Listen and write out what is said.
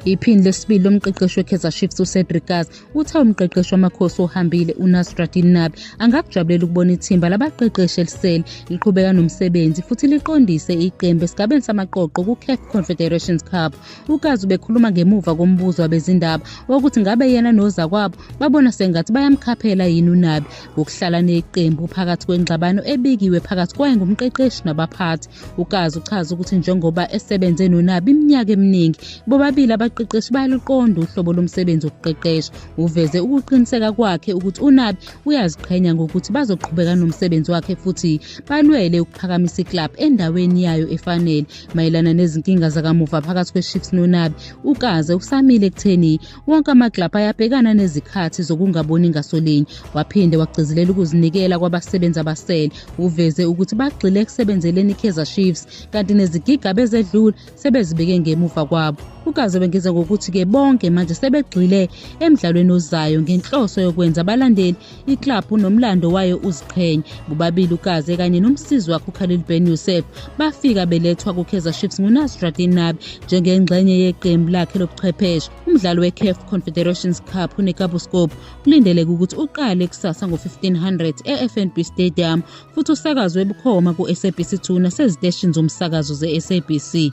Iphini lesibili lomqeqeshi weKaizer Chiefs uCedric Kaas uthe umqeqeshi wamakhosi ohambile uNasruddin Nabi angakujabulela ukubona ithimba labaqeqeshi elisele liqhubeka nomsebenzi futhi liqondise iqembu esigabeni samaqoqo kuCAF Confederations Cup. UKaas ubekhuluma ngemuva kombuzo wabezindaba wokuthi ngabe yena nozakwabo babona sengathi bayamkhaphela yini uNabi Ukuhlala neqembu phakathi kwengxabano ebikiwe phakathi kwaye ngumqeqeshi nabaphathi. UKazi uchaza ukuthi njengoba esebenze noNabi iminyaka eminingi, bobabili abaqeqeshi bayaluqonda uhlobo lomsebenzi wokuqeqesha. Uveze ukuqiniseka kwakhe ukuthi uNabi uyaziqhenya ngokuthi bazoqhubeka nomsebenzi wakhe futhi balwele ukuphakamisa iklabhu endaweni yayo efanele. Mayelana nezinkinga zakamuva phakathi kweShips noNabi, uKaze usamile ekutheni Wonke amaglabha ayabhekana nezikhathi zokungaboni ngasolinye. Waphinde wagcizelela ukuzinikela kwabasebenzi abasele. Uveze ukuthi bagxile ekusebenzeleni iKaizer Chiefs kanti nezigigaba ezedlule sebezibeke ngemuva kwabo. Ukaze wengeza ngokuthi-ke bonke manje sebegxile emdlalweni ozayo ngenhloso yokwenza abalandeli Iklabhu nomlando wayo uziqhenye. Bobabili uKaze kanye nomsizi wakhe uKhalil Ben Youssef bafika belethwa kuKaizer Chiefs nguNasruddin Nabi njengengxenye yeqembu lakhe lobuchwepheshe. Umdlalo weCAF Confederations Cup uNekabuskop kulindeleke ukuthi uqale kusasa ngo-1500 eFNB Stadium futhi usakazwe bukhoma ku-SABC 2 naseziteshini zomsakazo ze-SABC.